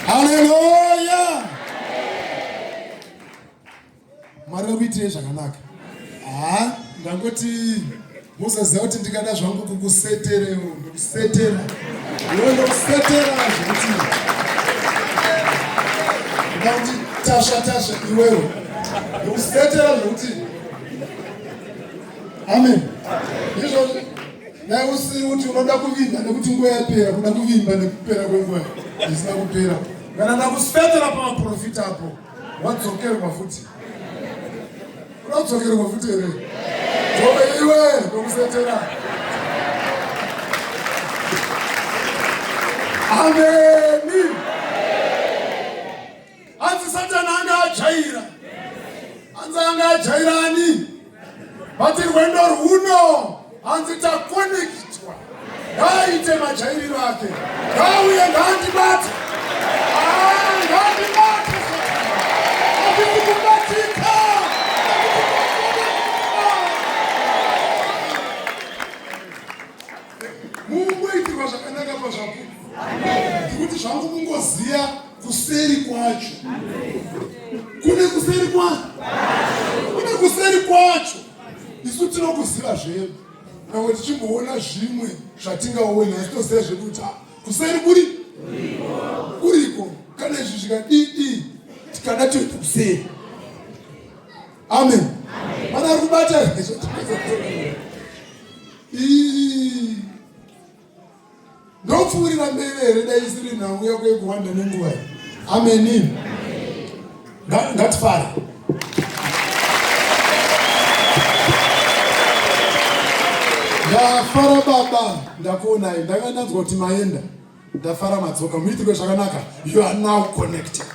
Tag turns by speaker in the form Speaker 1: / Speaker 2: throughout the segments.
Speaker 1: Haleluya! Mwari akuitirei zvakanaka. Haa, ndangoti musaziva kuti ndikada zvangu kukusetereo ndokusetera iwe ndokusetera zvekuti ndauti tasha tasha iwewe ndokusetera zvekuti amen izvozvi Dai usiri kuti unoda kuvimba nekuti nguva yapera, kuda kuvimba nekupera kwenguva isina kupera. Kana ndakusvetera pamaprofita apo, wadzokerwa futi. Unodzokerwa futi here? Jove iwe ndokusetera. Amen. Hanzi Satani anga ajaira. Hanzi anga ajaira ani? Vati rwendo rwuno hanzi takonekitwa. Ngaaite majairiro ake. Ngauye ngaandibate. Ah, ngaandibate. Hazvisi kubatika. Mungoitirwa zvakanaka pazvapupu. Ndikuti zvangu kungoziya kuseri kwacho kune kuseri kwacho kune kuseri kwacho isu tinokuziva zvedu navo tichimboona zvimwe zvatingaoni asi toziva zvedu kuti ah, kuseri kuri kuriko kana izvi zvikadii tikada toita kuseri amen pana ari kubata ndopfuurira mberi here dai isiri nhau yako yekuwanda nenguva iyi ameni ngatifare ndafara baba ndakuonai ndanga ndanzwa kuti maenda ndafara madzoka muitiko zvakanaka you are now connected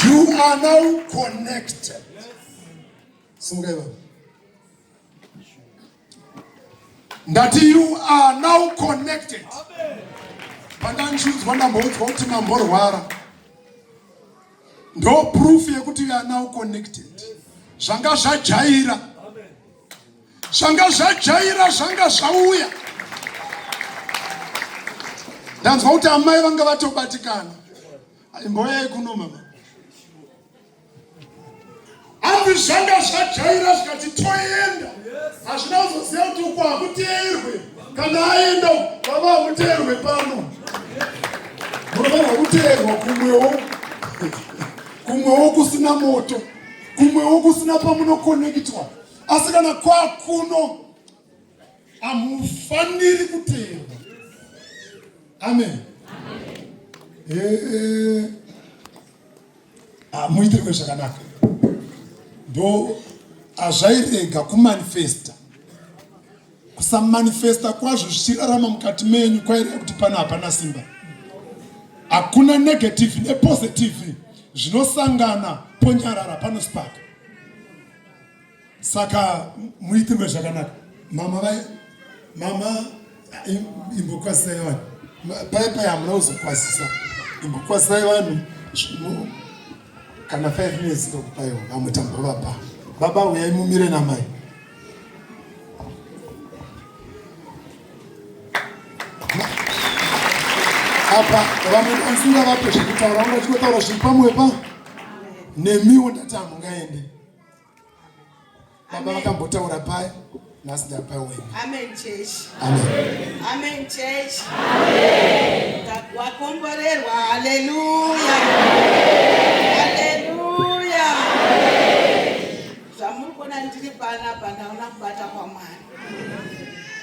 Speaker 1: you are now connected sungai baba ndati you are now connected pandanzvinzwa ndamboudzwa kuti mamborwara ndo proof yekuti you are now connected zvanga zvajaira zvanga zvajaira zvanga zvauya ndanzwa kuti amai vanga vatobatikana imboyai kuno mama hanzi zvanga zvajaira zvikati toenda hazvina kuzoziva kuti uko hakuteerwe kana aenda vava hakuteerwe pano munofanirwa kuteerwa kumwewo kumwewo kusina moto kumwewo kusina pamunokonekitwa asi kana kwakuno hamufaniri kuteerwa amen, amen. Hey. Eh, eh. Ah, muitirwe zvakanaka ndo hazvairega kumanifesta kusamanifesta kwazvo zvichirarama mukati menyu kwaireva kuti pano hapana simba hakuna negative nepositive zvinosangana ponyarara panospaka saka muitirwe zvakanaka mama vai mama imbokwasisai vanhu paye paye hamuna kuzokwasisa imbokwasisai vanhu kana five minutes ndokupaiwo vamwe tambovapa baba uyai mumire namai apa vamwe ansinga vape zvekutaura vanga chikotaura zviri pamwepa nemiwo ndati hamungaende Baba vakambotaura paya nhasi ndapawena. Amen church.
Speaker 2: Amen.
Speaker 1: Amen church.
Speaker 2: Amen. Wakomborerwa. Hallelujah. Hallelujah. Zvamuri kuona ndiri panapa ndaona kubata kwaMwari.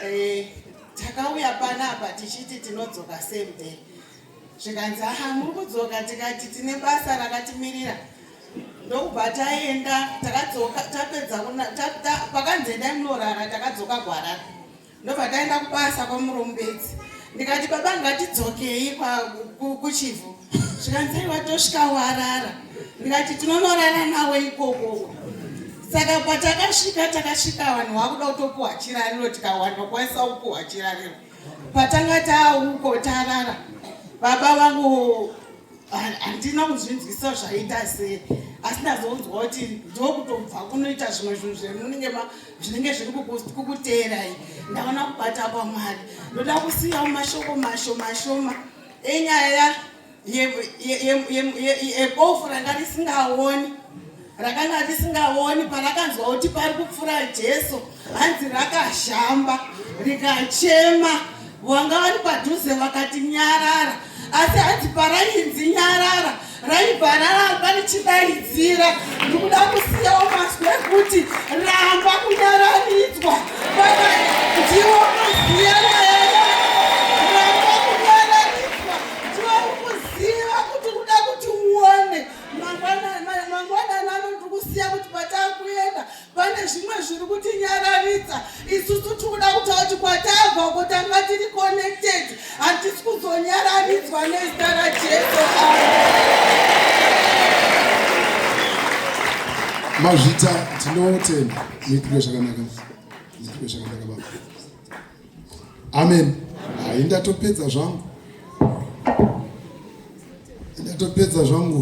Speaker 2: Eh, takauya panapa tichiti tinodzoka same day. Zvikanzi aha muri kudzoka tikati tine basa rakatimirira. ndokubva taenda takadzoka tapedza pakanzi endai munorara takadzoka kuharare ndobva taenda kubasa kwamurombedzi ndikati baba ngatidzokei kuchivhu zvikanzai watosvika warara ndikati tinonorara nawe ikoko saka patakasvika takasvika vanhu vakuda kutopuhwa chirariro tikawana kwanisa kupuhwa chirariro patanga tauko tarara baba vangu handina kuzvinzwisa zvaita sei asi ndazonzwa kuti ndokutobva kunoita zvimwe zvinhu zvemunenge zvinenge zviri kukuteerai ndaona kubata kwamwari ndoda kusiyawo mashoko masho mashoma enyaya yebofu ranga risingaoni rakanga risingaoni parakanzwa kuti pari kupfura jesu hanzi rakashamba rikachema wanga vari padhuze vakati nyarara asi hanzi parainzi nyarara raibva raramba richidaidzira ndikuda kusiyawo mazwi ekuti ramba kunyararidzwa ndiwo maziya ramba kunyararidzwa ndiwo ukuziva kuti kuda kuti uone mangwanani ano tiri kusiya kuti patakuenda pane zvimwe zviri kutinyararidza isusu tikuda kuta kuti kwatabva uko tanga tiri connected hatisi kuzonyararidzwa nezita rajesu
Speaker 1: mazvita tinotenda nekuda zvakanaka nekuda zvakanaka baba amen hayi ndatopedza zvangu ndatopedza zvangu